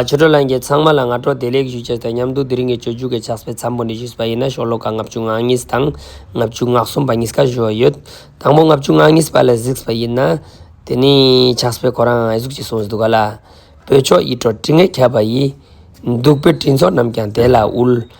ཨ་ཆོས་གྲྭ་ལ་མཇལ་ཚང་མ་ལ་སྔ་དྲོ་བདེ་ལེགས་ཞུ་རྒྱུ་དང་མཉམ་དུ་དེ་རིང་གི་ཆོས་འཇུག་གི་ཕྱག་སྤེལ་འཚམས་པོ་འདི་ཞུས་པ་ཡིན་ན་ཤོག་ལོ་ཀ་ལྔ་བཅུ་ང་གཉིས་དང་ལྔ་བཅུ་ང་གསུམ་པ་གཉིས་ཀ་བཞུགས་ཨེ་ཡོད། དང་པོ་ལྔ་བཅུ་ང་གཉིས་པ་ལ་གཟིགས་པ་ཡིན་ན། དེ་ནི་ཕྱག་སྤེལ་ཁོ་རང་ཨེ་གཟུགས་ཅེས་གསུངས་འདུག་ག་ལ། བོད་ཕྱོགས་ཡིད་སྤྲོ་དྲི་ངད་ཁྱབ་པ་ཡིན། འདུག་བོད་སྤྲིན་ཚོགས་རྣམས་ཀྱང་དེ་ལ་དབུལ།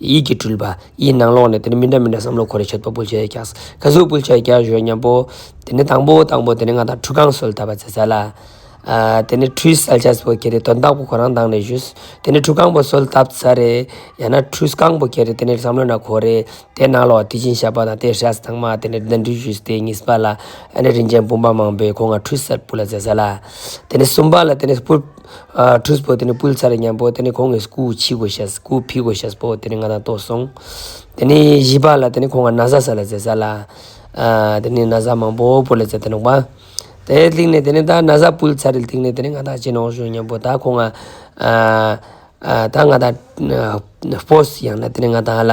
ཡིད་ཀྱིས་སྤྲུལ་པ་ཡི་ནང་ལོགས་ནས་དེ་ནི་མི་འདྲ་མི་འདྲ་བསམ་བློ་འཁོར་རེ་ཆོད་པོ་སྤུལ་བྱེད་རྒྱགས་ཁ་གཟུགས་སྤུལ་བྱེད་རྒྱགས་གཞོན་ཉམས་པོ། དེ་ནི་དང་པོ་དང་པོ་དེ་ནི་ང་དང་ཁྲུས་ཁང་སོལ་ཐབས་པ་ཟེར་ས་ལ། དེ་ནི་ཁྲུས་སལ་ཆགས་པོ་ཁྱེད་རེ་དོན་དག་པོ་ཁོ་རང་དང་ནས་བཞུས། དེ་ནི་ཁྲུས་ཁང་པོ་སོལ་ཐབས་ས་རེ། ཡང་ན་ཁྲུས་ཁང་པོ་ཁྱེད་རེ་དེ་ནི་བསམ་བློ་ན་འཁོར་རེ། དེ་ནང་ལོགས་དེ་བཞིན་ཞབས་པ་དང་དེ་ཧྲལ་ས་དང་མ་དེ་ནི་འདི་འདྲུལ་བཞུས་དེ་གཉིས་པ་ལ། ཨ་ནེ་རིན་ཆེན་བུམ་པ་མང་པོས་ཁོ་ང་ཁྲུས་སལ་སྤུལ་ལ་ཟེར་ས་ལ། དེ་ནི་གསུམ་པ་ལ་དེ་ནི་སྤུལ། ཁྲུས་པོ་དེ་ནི་སྤུལ་ཚར་སྙམ་པོ་དེ་ནི་ཁོང་གི་སྐུ་ཕྱི་གོ་ཤེས་སྐུ་ཕི་གོ་ཤེས་པོ་དེ་ནི་ང་དང་ལྟོ་སོང། དེ་ནི་བཞི་པ་ལ་དེ་ནི་ཁོང་ག་ན་བཟའ་ས་ལ་བཟས་ས་ལ། དེ་ནི་ན་བཟའ་མང་པོ་པོ་ལ་བཟས་ཏེ་ནོག་པ། དེ་ལྟིང་ནས་དེ་ནི་ད་ན་བཟའ་སྤུལ་ཚར་རིལ་ཐིག་ནི་དེ་ནི་ང་དང་གཅིག་ནོག་ཞུ་སྙམ་པོ་ད་ཁོང་ང། ད་ང་དང། སྤོས་ཡང་ན་དེ་ནི་ང་དང་ལ།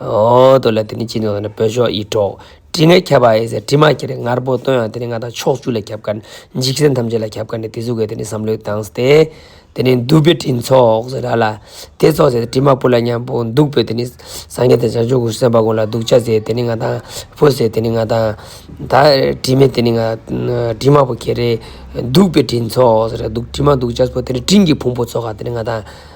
ཨོ་ཏོ་ལ་དེ་ནི་ཅི་འདོད་ན་ནི་བོད་ཤོག་ཡིད་འཕྲོག། དྲི་ངད་ཁྱབ་པ་ཨེ་ཟེར་དྲི་མ་ཁྱེར་རེ་ངར་པོ་སྟོན་ཡང་དེ་ནི་ང་དང་ཕྱོགས་བཅུ་ལ་ཁྱབ་ཁར། འཇིགས་ཟེར་ཐམས་ཅད་ལ་ཁྱབ་ཁར་ནི་དེ་གཟུགས་ཀྱི་དེ་ནི་བསམ་བློའི་གདངས་སྟེ། དེ་ནི་འདུ་བའི་དྲིན་ཚོགས་ཟེར་ར་ལ། དེ་ཚོགས་ཟེར་ཏེ་དྲི་མ་སྤུ་ལ་མཉམ་པོ་འདུག་པས་དེ་ནི། སངས་རྒྱས་དང་བྱང་ཆུབ་ཀུན་སེམས་དཔའ་ཀུན་ལ་སྡུག་བྱ་ཟེར་དེ་ནི་ང་དང། ཕོ་ཟེར་དེ་ནི་ང་དང། ད་དྲི་མེད་དེ་ནི་ང། དྲི་མ་པོ་ཁྱེར་རེ། འདུག་པའི་དྲིན་ཚོགས་ཟེར་ར་འདུག་དྲི་མ་འདུག་བྱ་སྤུ་དེ་ནི་སྤྲིན་གྱི་ཕུང་པོ་ཚོགས་ཁ་དེ་ནི་ང་དང།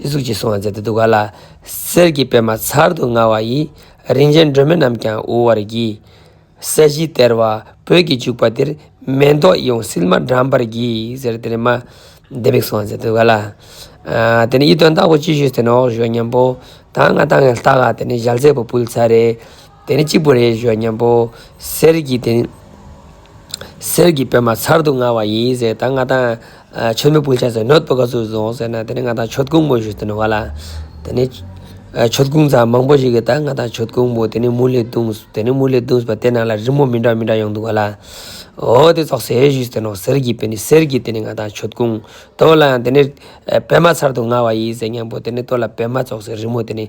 ཡིད་གཟུགས་ཀྱིས་བསྲུང་བར་མཛད་དུ་འདུག་ག་ལ། གསེར་གྱི་པདྨ་མཚར་དུ་མངའ་བ་ཡི། རིན་ཆེན་སྒྲོན་མེ་རྣམས་ཀྱང་དབུལ་བར་བགྱི། ས་གཞི་སྟེར་བ་བོད་ཀྱི་བྱུག་པ་འདིར། མེ་ཏོག་ཡོངས་བསིལ་མ་དགྲམ་པར་བགྱི། ཟེར་དེ་ནས་མ་བདེ་མིག་བསྲུང་བར་མཛད་དུ་ག་ལ། དེ་ནས་ཡིད་རྟོན་བདག་པོ་ཅི་བཞུགས་དེ་ནས་འོག་བཞུགས་སྙམ་པོ། ད་ང་ལྟ་ངན་ལྟ་ག་དེ་ནས་ཞལ་ཟས་བུ་བུལ་ཚར་རེ། དེ་ནི་གཅིག་པུ་རེད་ཞོ་སྙམ་པོ། གསེར་གྱི་དེ་ནི། གསེར་གྱི་པད་མ་མཚར་དུ་མངའ་བ་ཡིན་ཟེར་ད་ང་དང། ཆོས་མེད་སྤུན་ཆགས་ཟེར་ནོད་པོ་ག་ཚོད་བཟུང་ཟེར་ན་དེ་ནི་ང་དང་ཆོས་ཀུན་མོ་ཞུས་དོན་བ་ལ། དེ་ནི། ཆོས་ཀུན་ཚང་མང་པོ་ཞིག་གིས་ད་ང་དང་ཆོས་ཀུན་མོ་དེ་ནི་མུ་ལེ་བརྡུང། དེ་ནི་མུ་ལེ་བརྡུང་ཟེར་བ་དེ་ནང་ལ་རི་མོ་མི་འདྲ་མི་འདྲ་ཡོང་འདུག་བ་ལ། འོ་དེ་ཚོགས་ཟེར་ཞུས་དོན་ནོ་གསེར་གྱི་པད་ནི་གསེར་གྱི་དེ་ནི་ང་དང་ཆོས་ཀུན། དོ་བ་ལ་ཡང་དེ་ནི། པད་མ་མཚར་དུ་མངའ་བ་ཡིན་ཟེར་སྙམ་པོ་དེ་ནི་དོ་ལ་པད་མ་ཚོགས་ཟེར་རི་མོ་དེ་ནི།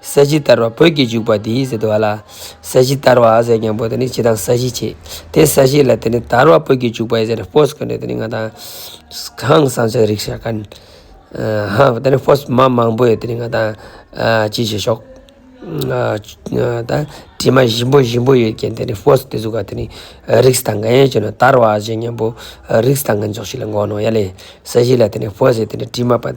ས་གཞི་བསྟར་བ་བོད་ཀྱི་འཇུག་པ་འདིའི་ཟེར་བ་ལ། ས་གཞི་བསྟར་བ་ཟེར་ཀྱང་བོད་དུ་ནི་སྤྱི་དང་ས་གཞི་བྱས། དེ་ས་གཞི་ལ་དེ་ནི་དར་བ་བོད་ཀྱི་འཇུག་པའི་ཟེར་ཕོས་ཁོ་ནས་དེ་ནི་ང་དང། ཧང་སང་ཆགས་རིག་ཤ་ཁན། ཧང་དེ་ནི་ཕོས་མ་མང་པོས་དེ་ནི་ང་དང། ཅི་བྱེད་ཤོག། ད། དྲི་མ་ཞིམ་པོ་ཞིམ་པོ་ཡོད་རྐྱེན་དེ་ནི་ཕོས་དེ་ཟུག་ག་དེ་ནི། རིགས་དང་ག་ཡན་བྱས་ནས་དར་བ་ཟེར་སྙམ་པོ། རིགས་དང་ག་འཇོག་བྱེད་ལ་མགོ་ནོར་ཡ་ལེ། ས་གཞི་ལ་དེ་ནི་ཕོས་ཟེར་དེ་ནི་དྲི་མ་པ།